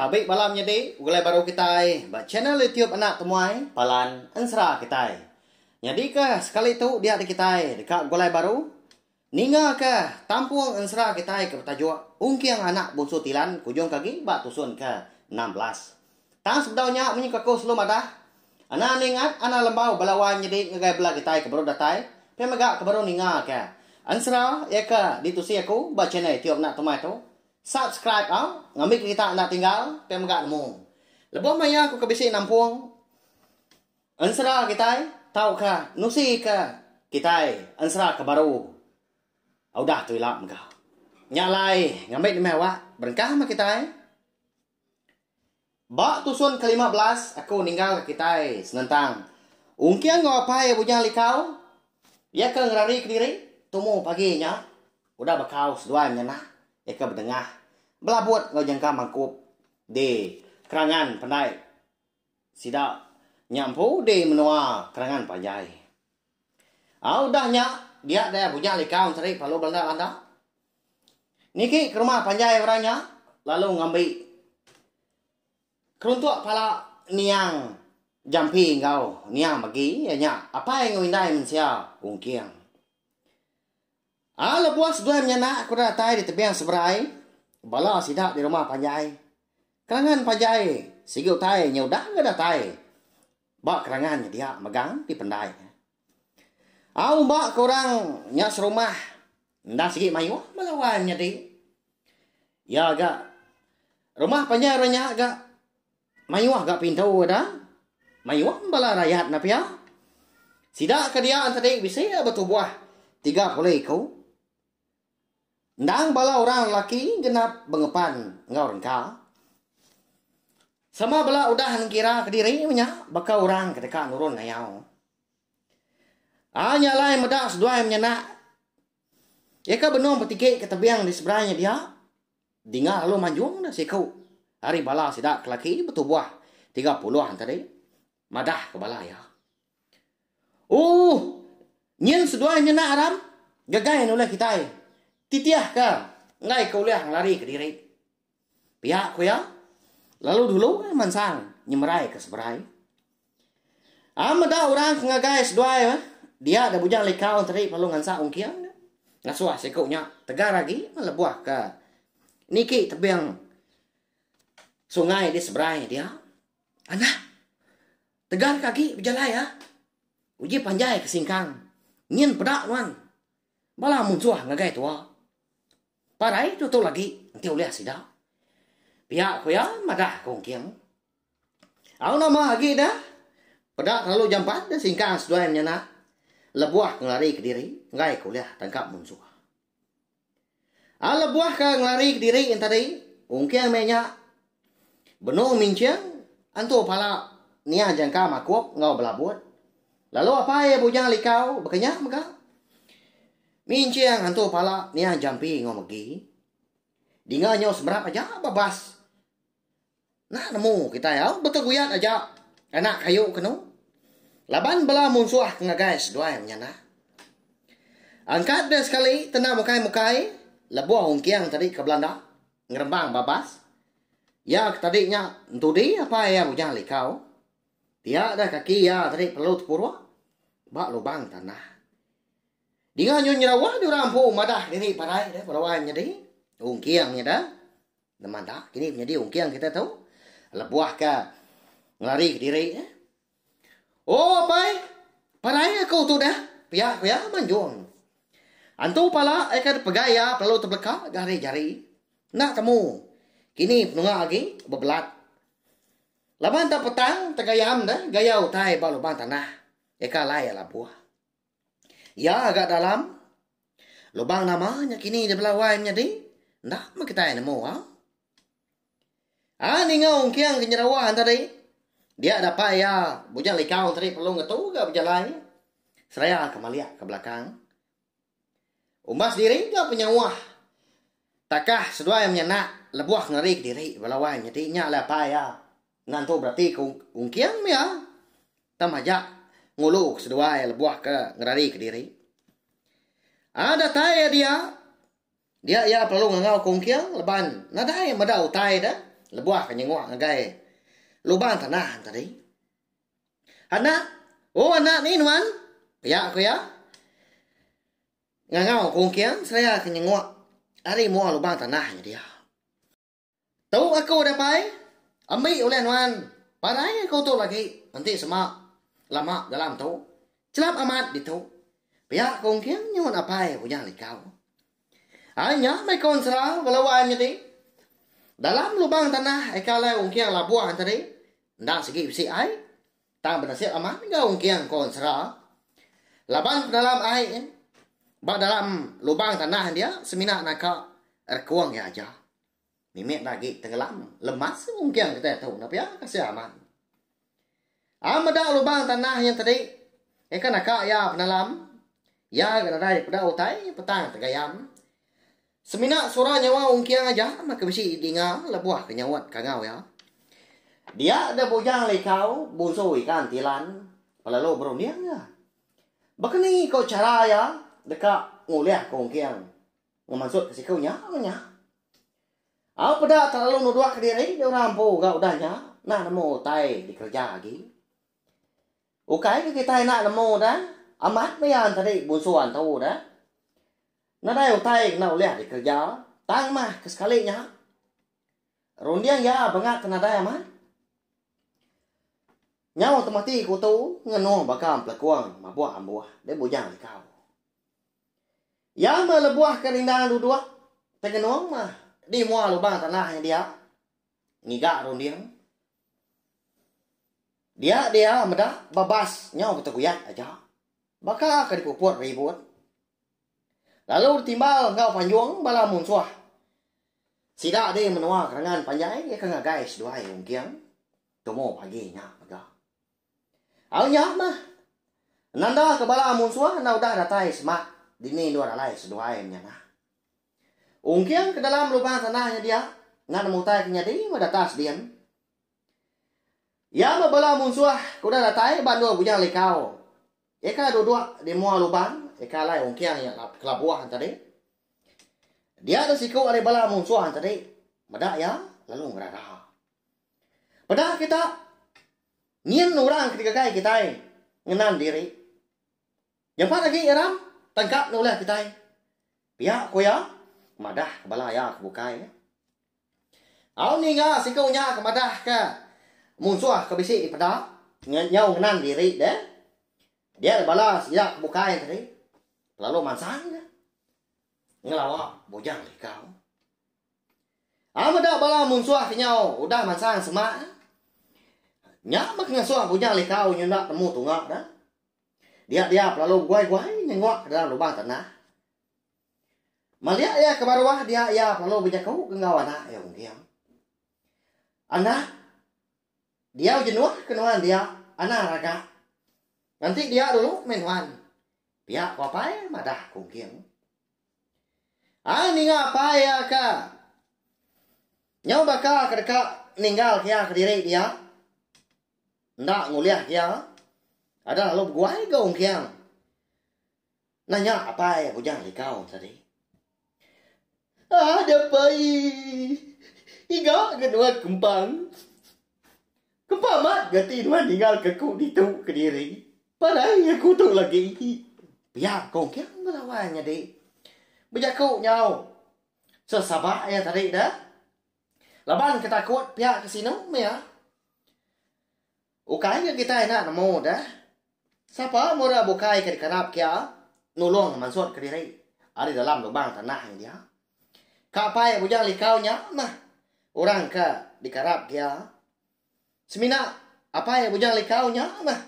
Tabi bala menyedi ulih baru kitai ba channel YouTube Anak Temuai Palan Ensera kitai. Nyadika sekali tu diak ti kitai deka begulai baru, ningaka tampung ensera kitai ke betajuk Ungking Anak Bunsu Tilan Kujung Kagi ba tusun ke enam belas. Tang sebedau nya munyi ke aku selalu madah, ana ningat ana lembau bala wai menyedi ngagai bala kitai ke baru datai pia mega ke baru ningaka ensera iya ke ditusi aku ba channel YouTube Anak Temuai tu. Subscribe au ngambi kerita enda tinggal pia mega nemu. Lebuh maya aku ke bisi nampung ensera kitai tauka nusi ke kitai ensera ke baru udah tu ila mega. Nya alai ngambi demi awak berengkah meh kitai. Ba tusun ke lima belas aku ninggal ke kitai senentang ungking enggau apai Bujang Likau iya ke ngerari kediri tumu pagi nya udah bakau seduai menyanak iya ke bedengah belabut enggau nyengka mangkup di kerangan pendai. Sida nya empu di menua Kerangan Panjai. Au udah nya dia daya bunya lika Menteri Palu Belanda Landa niki ke rumah panjai orang nya lalu ngambi keruntuk pala niang jampi enggau niang megi iya nya apai enggau indai mensia Ungking. A Lebuh seduai menyanak ku datai di tebing seberai, bala sida di rumah panjai. Kerangan panjai sigi utai nya udah enggau datai ba kerangan nya dia mega dipendai. A Umba ke orang nya serumah enda sigi mayuh bala wai menyadi. Iya ga rumah panjai orang nya ga. Mayuh ga pintu ada, mayuh meh bala rayat enda pia. Sida ke dia enti adi bisi iya betubuh tiga puluh iku. Endang bala orang lelaki genap bengepan enggau rengka. Sama bala udah nengkira kediri meh nya baka orang ke deka nurun ngayau. Ai nya alai meda seduai menyanak iya ke benung betigi ke tebing di seberang nya dia. Dinga lalu manjung dah siku ari bala sida ke laki betubuh tiga puluh an tadi madah ke bala iya. Ooh nyin seduai nyena aram gegai nulih kitai titih ke enggai ke ulih ngelari ke diri. Pia ku iya lalu dulu mansang nyemerai ke seberai. Am meda orang ke ngagai seduai meh. Dia da bujang lika enteri lalu ngansak ungking dia. Ngasuh siku nya tegar agi meh lebuh ke niki tebing sungai di seberai dia. Anak, tegar ke agi bejalai ya. Uji panjai ke singkang. Nyin peda nuan. Bala munsuh ngagai tua. Parai tutul agi enti ulih sida. Pia ku iya madah ke ungking. Au nama agi dah? Peda kelalu jampat dah singkang seduai menyanak lebuh ngelari kediri enggai ke ulih tangkap munsuh. Au lebuh ke ngelari kediri nya tadi, ungking meh nya benung minching antu pala nia jangka makuk enggau belabut lalu apai Bujang Likau baka nya mega minching antu pala nia jampi enggau megi dinga nyau semerap aja babas. Enda nemu kitai au beteguyat aja anak kayu kenu laban bela munsuh ke ngagai seduai menyanak. Angkat dia sekali tena mukai-mukai lebuh ungking tadi ke belanda ngerembang babas. Iya ke tadi nya entudi apai iya mujang likau. Pia deh kaki iya tadi perlu tepuruk ba lubang tanah. Dinga nyun nyerawah diorang empu madah diri parai deh beruan nyadi ungking nya deh Neman ta, kini menyadi ungking kita tu. Lebuh ke ngelari ke diri. Eh. Oh, apai. Parai aku tu dah. Pia, pia, manjung. Antu pala, eh kan pegai ya, pelalu terbeleka, gari jari. Nak temu. Kini penunga lagi, bebelat. Laban tak petang, tegayam dah, gaya utai ba lubang tanah. Eka lai ya labuh. Iya ga dalam. Lubang nama nya kini di bela wai menyadi? Enda meh kitai nemu a. Ai ninga ungking ke nyerewa enda di. Dia dapat iya bujang likau tadi perlu ngetu ga bejalai. Seraya ke malik ke belakang. Umbas diri ga penyauah takah seduai menyanak lebuh ngelari ke diri bela wai menyadi nya alai apai iya. Enda entu berati ke ungking mih ah, tang majak ngulu ke seduai lebuh ke ngerari ke diri. Ah datai iya dia, dia iya pelalu ngangau ke ungking leban nadai meda utai de lebuh ke nyenguk ngagai lubang tanah nya tadi. Anak, oh anak ni nuan, pia ku iya ngangau ke ungking seraya ke nyenguk ari mua lubang tanah nya dia. Tu aku udah pai ambi ulih nuan parai aku tu lagi enti sema lama dalam tu chelap amat ditu pia ku engking nyuan apai punya likau ai nya meh ku ensera beluan nyadi dalam lubang tanah ai ka alai engking labuh tadi enda sigi bisi ai. Tang benasib amat enggau engking ko ensera. Laban pedalam ai ba dalam lubang tanah dia semina naka rekung iya aja. Mimit agi tengelam lemas engking kitai tu enda pia kasih amat. Ai meda lubang tanah nya tadi eka naka iya penalam iya ga nadai peda utai petang tegayam. Semina sura nyawa Ong Kiang aja meh ke bisi dinga lebuh ke nyaut kangau iya. Dia deh Bujang Likau bunsu Ikan Tilan pelalu berunding iya. Baka ni ko chara iya deka ngulih ke Ong Kiang ngemansut ke siku nya meh nya. Au peda tak lalu nuduk ke diri di orang empu ga udah nya nah nemu utai dikereja agi. Ukai ke kitai enda nemu da, amat pian tadi bunsuan tu da. Nadai utai ke enda ulih dikereja, tang mah ke sekali nya runding iya bengap ke nadai amat. Nyau temati kutu ngenuh baka empelekung mabuh ambuh di bujang likau. Iya meh lebuh ke rindang duduk tengenung meh di mua lubang tanah nya dia ngiga runding. Dia dia meda babas nyau ke teguyat aja. Baka ke dipuput ribut. Lalu ditimbal enggau panjung bala munsuh. Sida di menua kerengan panjai iya ke ngagai seduai ungking tumu pagi nya mega. Au nya meh. Nanda ke bala munsuh enda udah datai semak dini endur alai seduai menyanah. Ungking ke dalam lubang tanah nya dia enggau nemu utai ke nyadi meh datas din. Iya meh bala munsuh ke udah datai ba endur Bujang Likau. Iya kala duduk di mua lubang ika alai ungking iya ke labuh tadi. Dia deh siku ari bala munsuh tadi meda iya lalu ngerara. Peda kita nyin orang ke digagai kitai ngenan diri. Nyampat agi iya ram, tang ka nulih kitai, pia ku iya madah ke bala iya ke bukai nya. Au ninga siku nya ke madah ke munsuh ke bisi dipeda nyau ngenan diri dia, dia nya bala sida ke bukai tadi lalu mansang iya ngelawa bujang likau. Au meda bala munsuh ke nyau udah mansang semak nya meh ke ngesuh bujang likau nyenda nemu tunga dia. Dia-dia pelalu beguai-guai nyengok ke dalam lubang tanah. Malik iya ke baruh dia iya pelalu bejaku ke enggau anak iya Ungking. Anak, diau jenuh ke nuan dia anang raga. Nganti dia dulu meh nuan. Pia ku apai madah ke Ungking. Ai ninga apai iya ke nyau baka ke deka ninggal ke iya kediri dia. Enda ngulih iya. Ada lalu beguai ga Ong Kiang. Nanya apai bujang likau tadi. Ada pai. Iga ngenua kempang. Kempang mat ga ti nuan ningal ke ku ditu kediri. Parai aku tu lagi. Pia ko Ong Kiang belawa nyadi. Bejaku nyau. Sesaba iya tadi dah. Laban ke takut pia ke sinu meh iya. Ukai ke kitai enda nemu deh. Sapa mura bukai ke dikarap kia nulung mansut ke diri ari dalam lubang tanah nya dia. Ka pai bujang likau nya meh orang ke dikarap kia. Semina apai Bujang Likau nya meh.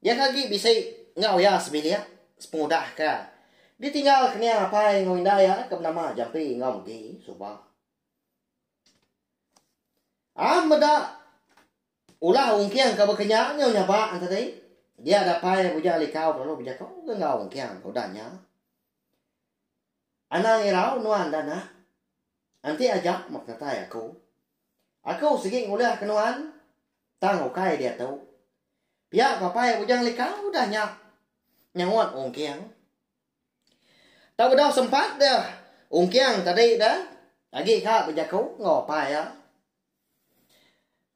Iya ke agi bisi enggau iya sebilik sepengudah ke ditinggal ke nia apai enggau indai iya ke benama Jampi enggau Megi suba. Am meda ulah ungking ke baka nya nyau nyabak enti tadi dia dapai Bujang Likau lalu bejaku ke enggau ungking ke udah nya. Anang irau nuan dah nak. Enti aja mak datai aku. Aku sigi ngulahka nuan, tang ukai diatu. Pia ku apai Bujang Lika udah nya nyaut Ungking. Tau bedau sempat deh Ungking tadi deh agi ka bejaku enggau apai iya.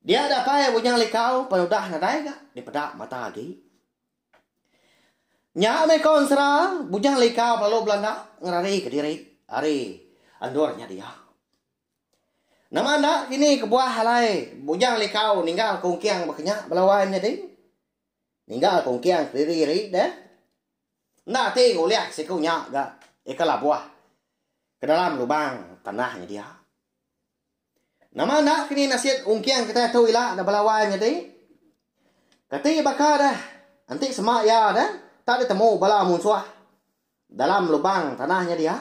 Dia deh apai Bujang Lika pan udah nadai ga dipeda mata agi. Nya meh ko ensera Bujang Lika belalu belanda ngerarika diri ari endur nya dia. Nama enda kini kebuah alai Bujang Likau ninggal kungking bekenya bala wan nyadi? Ninggal kungking kediri ari deh? Enda ati ngulih siku nya ga ika labuh ke dalam lubang tanah nya dia. Nama enda kini nasit kungking kitai tu ila da bala wan nyadi? Kati baka deh enti sema iya deh tak ditemu bala munsuh dalam lubang tanah nya dia?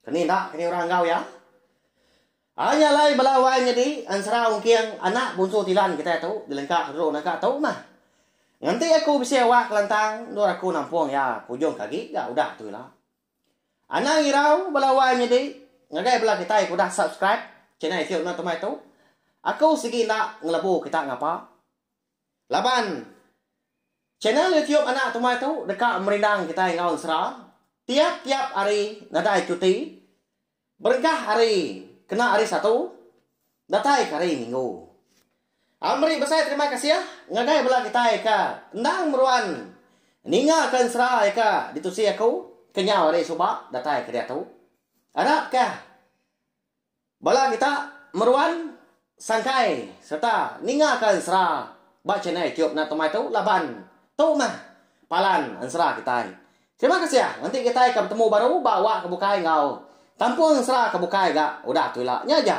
Ke ni enda ke ni orang enggau iya. Ai nya alai bala wai nyadi ensera ungking anak bunsu Tilan kitai tu dilengka ke dulu naka tu mah. Ngenti aku bisi awak kelantang endur aku nampung iya ke ujung ke agi ga udah tu ila. Anang irau bala wai nyadi ngagai bala kitai ke udah subscribe channel iku enda temai tu. Aku sigi enda ngelebu kita ngapa. Laban channel YouTube anak tumai tu deka merindang kitai enggau ensera tiap-tiap hari nadai cuti berengkah hari kena hari Satu datai ke hari Minggu. Aku meri besai terima kasih ngagai bala kitai ke endang meruan ninga ke ensera ke ditusi aku kenyau hari suba datai ke diatu. Arap kah. Bala kita meruan sangkai sereta ningaka ensera ba channel YouTube Nat Tomai tu laban tu mah palan ensera kitai. Terima kasih enti kitai ka betemu baru ba wak ke bukai enggau kampung ensera ke bukai ga udah tu ila. Nya aja.